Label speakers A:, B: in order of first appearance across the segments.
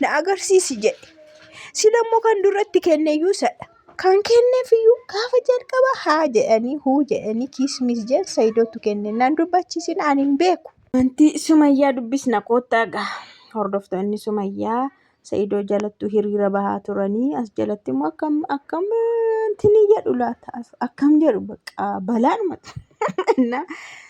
A: na agarsiisi jedhe. Sila immoo kan duratti kenne iyyuu isadha. Kan kenneef iyyuu gaafa jalqaba haa jedhanii huu jedhanii kiismis jedhan Sayidotu kenne. Nan dubbachiisin ani hin beeku. Wanti Sumayyaa dubbisna koottaa gaha. Hordoftoonni Sumayyaa Sayidoo jalattuu hiriira bahaa turanii as jalatti immoo akkam akkam tini jedhu laata akkam jedhu bakka balaanuma innaa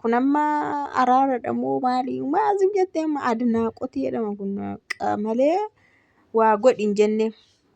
A: Kun amma araaradha moo maali? Maal sin jette amma adnaaqotii jedhama kun qa malee waa godhi hin jenne.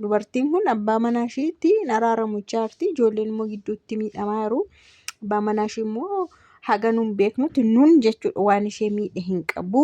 A: Dubartiin kun abbaa manaa ishiitti hin araaramu jechaa jirti. Ijoolleen immoo gidduutti miidhamaa jiru. Abbaan manaa ishii immoo haga nun beeknutti nun jechuudha waan ishee miidhe hin qabu.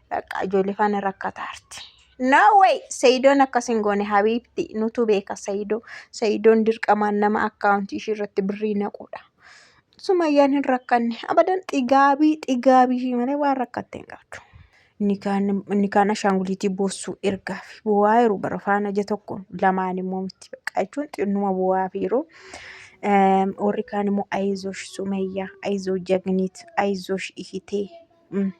A: Bakka ijoollee faana rakkataa jirti. No way! Sayidoon akkas hin goone habiibti nutu beeka sayidoo. Sayidoon dirqamaan nama akkaawuntii ishii irratti birrii naquudha. Sumayyaan hin rakkanne abadan xigaabii xigaabii ishii malee waan rakkatte hin qabdu. Nikaan nikaan ashaanguliitii boossuu ergaaf bu'aa yeroo bara faana ija tokko lamaan immoo miti bakka jechuun xinnuma bu'aa fi yeroo. Warri kaan immoo ayizosh sumayyaa ayizoo jagniit ayizosh ihitee.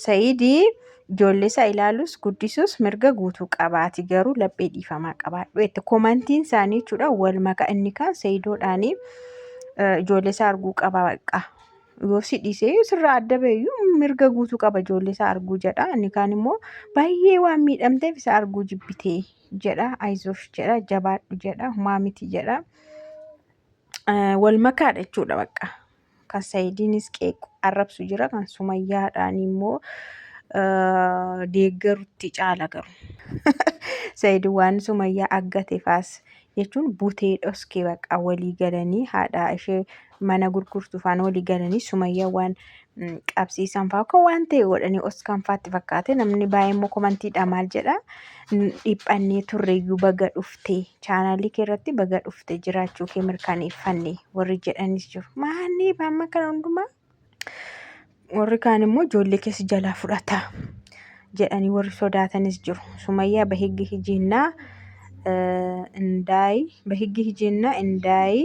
A: Saidi ijoollee isaa ilaalus guddisuus mirga guutuu qabaati garuu laphee dhiifamaa qabaadhu jette komantiin isaanii jechuudha wal maka inni kaan sayidoodhaanii ijoollee isaa arguu qaba baqa yoo si dhiisee sirraa adda bayyuu mirga guutuu qaba ijoollee isaa arguu jedha inni kaan immoo baay'ee waan miidhamteef isa arguu jibbitee jedha ayizosh jedha jabaadhu jedha humaa miti jedha. eh, wal makaadha jechuudha bakka. Kan Sayidiinis qeequ arrabsu jira, kan Sumayyaadhaan immoo eh, deeggarutti caala garu. Sayid waan Sumayyaa aggate faas jechuun butee dhoske bakka walii galanii haadha ishee mana gurgurtu faana walii galanii Sumayyaa waan qabsiisan fa'aa kun waan ta'e godhanii os kan faatti fakkaate namni baay'ee immoo komantiidha maal jedha dhiphannee turreeyyuu baga dhufte chaanaalii kee irratti baga dhufte jiraachuu kee mirkaneeffanne warri jedhanis jiru maanni amma kana hundumaa warri kaan immoo ijoollee keessa jalaa fudhata jedhanii warri sodaatanis jiru sumayyaa bahiggi hijiinnaa indaayi bahiggi hijiinnaa indaayi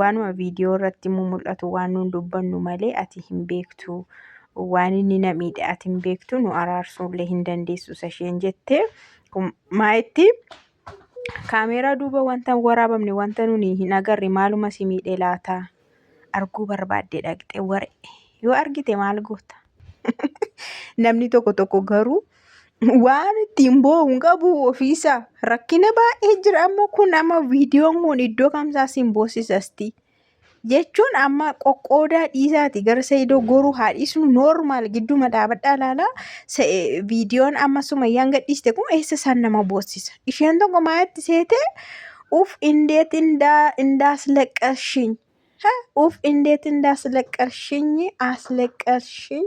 A: Waanuma viidiyoo irratti immoo mul'atu waan nuun dubbannu malee ati hin beektu. Waan inni na miidhe ati hin beektu nu araarsuullee hin dandeessu isa isheen jettee kun maa itti kaameeraa duuba wanta hin waraabamne wanta nuni hin agarre maaluma si miidhe laata arguu barbaadde dhaqxe waree yoo argite maal goota. Namni tokko tokko garuu Waan ittiin boo'u hin qabu ofiisaa. Rakkina baay'ee jira amma kun amma viidiyoon kun iddoo kamsaa siin boosisasti. Jechuun amma qoqqoodaa dhiisaati gara Sa'idoo goruu haa dhiisnu noormaal gidduma dhaabadhaa ilaalaa viidiyoon amma sumayyaan gadhiiste kun eessa isaan nama boossisa. Isheen tokko maayatti seetee uf indeet indaa indaas laqqashiin. Ha uf indeet indaas laqqashiin asleqqashiin.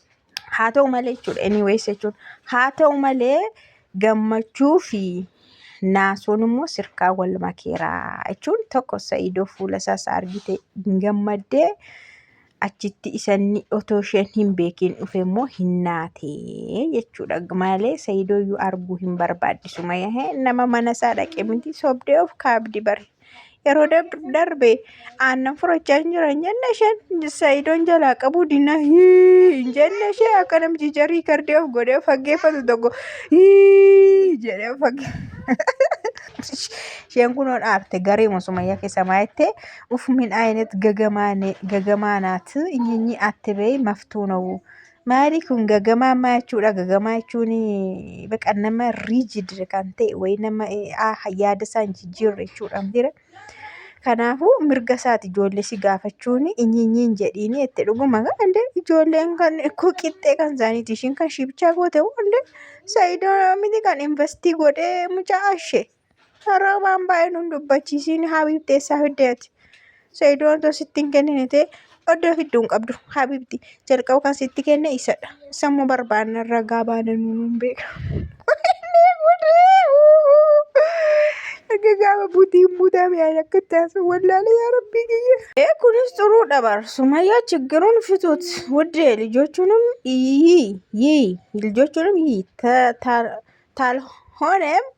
A: Haa ta'u malee jechuudha. Anyways jechuun haa ta'u malee gammachuu fi naasuun immoo sirkaa wal makeera jechuun tokko sa'idoo fuula isaas argite hin gammaddee achitti isanni otoo isheen hin beekin dhufe immoo hin naatee jechuudha. Malee sa'idoo iyyuu arguu hin barbaaddisu mayahee nama mana isaa dhaqe miti sobdee of kaabdi bare. Yeroo darbe aannan furachaa hin jiran jenne isheen Sa'idoon jalaa qabuu dinna hii hin jenne ishee akka namti jarii kardee of godhee faggeeffatu tokko hii jedhee fagge. Isheen kun ol aarte garee musumayyaa keessa maayettee uf min ayinet gagamaane gagamaa naati inyinyi atte bee maftuu na'u Maali kun gagamaa maa jechuudha? Gagamaa jechuun baqa nama rigid kan ta'e wayii nama yaada isaa hin jijjiirre jechuudha mira. Kanaafuu mirga isaati ijoollee si gaafachuun inyiinyiin jedhiini jette dhuguma gaande ijoolleen kan koo qixxee kan isaaniiti ishiin kan ishii bichaa goote hunda saayidoo miti kan investii godhee mucaa ishee. Roobaan baay'ee nun dubbachiisiin habiibti eessaa fidde ati. Sayidoon otoo sitti hin kennine ta'e oddoo fiddu hin qabdu habiibti. Jalqaba kan sitti kenne isadha. Sammoo barbaanna ragaa baana nuun beeka. Akka gaafa butiin butame ani akka taasa wallaalee yaa rabbii kiyya. Ee kunis xuruu dhabar sumayyaa chiggiruun fituut wuddee lijochuunim yii yii lijochuunim yii ta ta tal honem